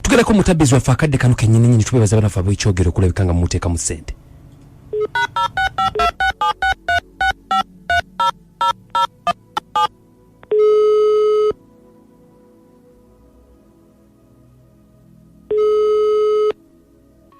tugerako mutabbizi waffe akadde kano kenyini nyini tubebaza banafe abwekyogero okulabika nga mumuteeka mu ssente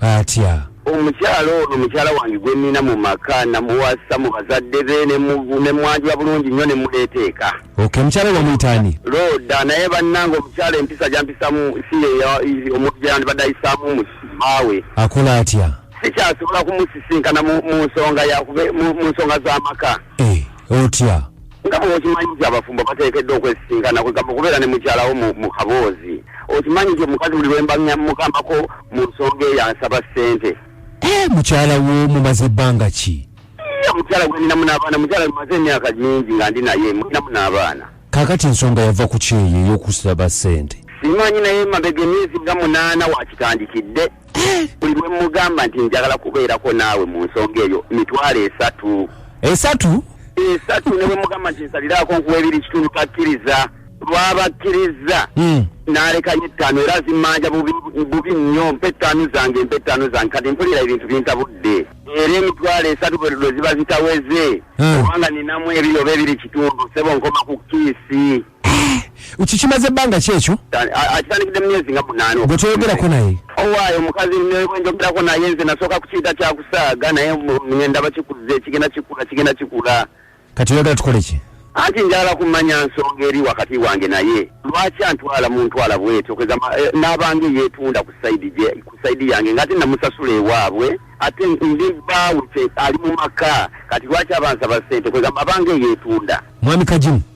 atya? Omukyala ono mukyala wange gwe nnina mu maka namuwasa mu bazadde be ne mwanjula bulungi nnyo ne muleeta eka. Ok, omukyala oyo bamuyita ani? Looda naye bannange omukyala empisa gyampisamu si ye omuntu gyeyandibadde ayisaamu omusibaawe. Akola atya? Sikyasobola kumusisinkana mu nsonga yakube mu nsonga z'amaka. Eh, otya? nga bwekimanyi nti abafumbo bateekeddwa okwesisinkana kwegamba okubeera ne mukyalawo mu kaboozi okimanyi nti omukazi buli lwembamukamako mu nsonga eyo ansaba ssente eh, mukyala wo mumaze ebbanga ki mukyala gweninamu n'abaana mukyala mumaze emyaka mingi nga ndi naye mulinamu n'abaana kakati ensonga yava ku kyeyo ey'okusaba ssente simanyi naye mabega emyezi nga munaana wakitandikidde buli lwe mugamba nti njagala kubeerako naawe mu nsonga eyo mitwalo esatu esatu esatu ne bwe mugamba nti nsaliraako nkuwa ebiri kitundu takkiriza lwabakkiriza hmm. n'alekayo ettaano era zimmanja bubi nnyo mpa ettaano zange mpa ettaano zange kati mpulira ebintu bintabudde era emitwalo esatu bwe ziba zitaweze hmm. kubanga ninamu ebiri oba ebiri kitundu sebo nkoma ku kiisi ukikimaze banga kyekyo akitandikide myezi nga munano gwetweyogera ko naye owaye omukazi njogira ko naye nze nasoka kukiyita kyakusaaga naye ngenda bakikuze kigenda kikula kigenda kikula kati oyagala tukole ki anti njagala kumanya nsonga eri wakati wange naye lwaki antwala muntwala bwetyo keza eh, nabange yetunda ku saidi je ku saidi yange ngati namusasula ewabwe ate ndi bawute ali mu maka kati lwaki abansa basente keza mabange yetunda mwami kajimu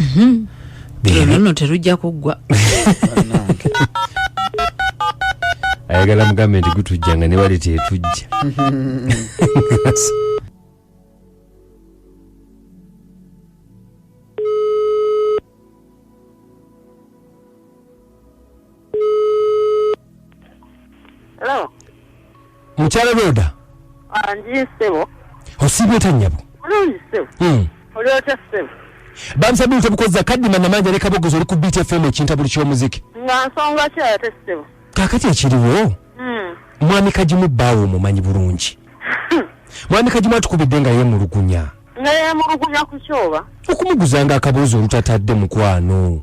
Mhm. Bebe. Luno terujja kuggwa. ayagala mugambe nti gutujja nga newali tetujja Hello. Mukyala Roda. Ah, ndi sebo. Osibe tanyabo. Ndi sebo. Mm. Oli otya sebo? Bamsa bintu bukoza kaddi manna manja ne kabogozo oli ku beat FM ekinta buli kyomuziki. Nga nsonga kya ya sebo. Kakati ekiriwo. Mm. Mwami kajimu bawo mumanyi bulungi. Mwami kajimu atukubidde nga ye mulugunya. Nga ye mulugunya ku kyoba. Okumuguzanga akabuzo olutatadde mukwano.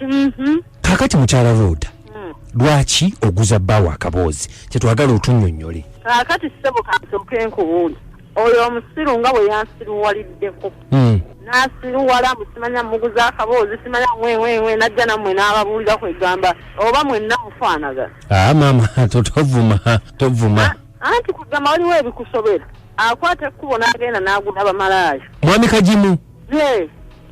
Mm-hmm. kakati mukyala roda mm. lwaki oguza bbaawo akaboozi kyetwagala otunyonyole kakati sebo kasoke nkubuuli oyo omusiru nga bwe yansiruwaliddeko mm. nasiruwala musimanya muguza akaboozi simanya wewewe najja namwe n'ababuulira kwegamba oba mwenna mufaanagana aa ah, maama totovuma tovuma ah, anti kugamba waliwo ebikusobera akwata ekkubo n'agenda n'agula bamalaaya mwami kagimu ye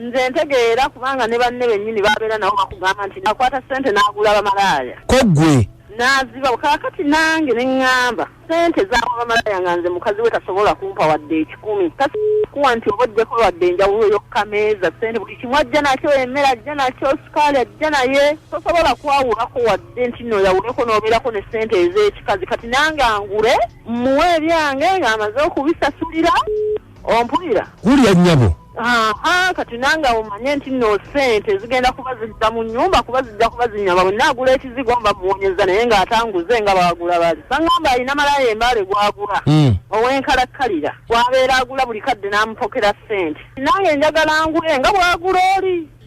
nze ntegeera kubanga ne banne bennyini babeera nabo bakugamba nti nakwata ssente n'agula bamalaaya ko ggwe n'azibawo kaakati nange ne ŋŋamba ssente zaawa bamalaaya nga nze mukazi we tasobola kumpa wadde ekikumi takuwa nti oba ojjeko wadde enjawulo yokkameeza ssente buli kimu ajja nakyo emmere ajja nakyo sukaali ajja naye tosobola kwawulako wadde nti no yawuleko n'obeerako ne ssente ez'ekikazi kati nange angule mmuwe ebyange ng'amaze okubisasulira ompulira wulira nnyabo aha kati nange awo manye nti no sente zigenda kuba zidda mu nyumba kuba zijja kuba zinyama bwe naagula ekizigo mba muwonyeza naye ng'atanguze nga baagula bali baŋamba alina malaya embaale gwagula hmm. ow'enkalakkalira gwabeera agula buli kadde n'amupokera sente nange njagala ngule nga bwagula oli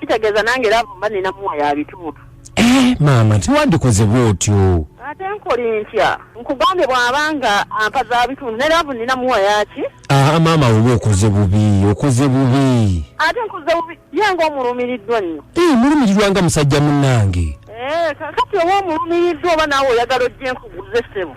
kitegeeza nange laavu mba nina muwa ya bituutu eh, maama tiwandikoze bwotyo ate nkole ntya nkugambye bw'aba nga ampa za bitundu ne laavu nina muwa yaki aa ah, maama oba okoze bubi okoze bubi ate nkoze bubi ye nga omulumiriddwa nnyo ee eh, mulumirirwa nga musajja munnange eh, kati oba omulumiriddwa oba naawe oyagala ojje nkuguze ssebo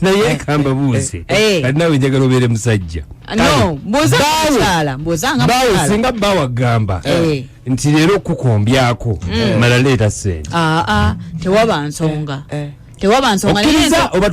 naye kamba buuze eh, eh. kati nawe njagala obeere musajja bawe singa bawe agamba eh. nti leero okukombyako mm. mala leeta sente ah, ah, tewaba nsonga tewaba nsongaokkiriza oba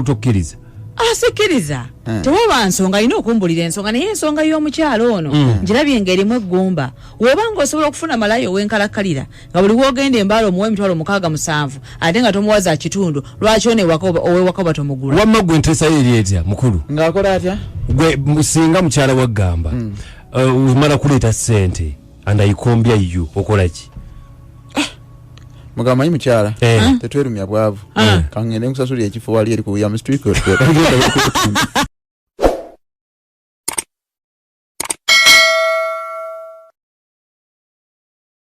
tokkiriza ah, sikiriza tewaba nsonga alina okumbulira ensonga naye ensonga y'omukyalo ono mm. njirabye ng'erimu eggumba woba nga osobola okufuna malayo owenkalakkalira nga buli wogenda embala omuwa emitwalo mukaaga musanvu ate nga tomuwa za kitundu lwaki ono owewaka oba tomugula wamma gwe enteesayo eri etya mukulu ng'akola atya gwe singa mukyala waggamba hmm. uh, omala kuleeta ssente andayikombya yo okola ki ah, mugamba manyi mukyala eh. ah. tetwerumya bwavu ah. kangende nkusasuli ekifo wali eri ku william street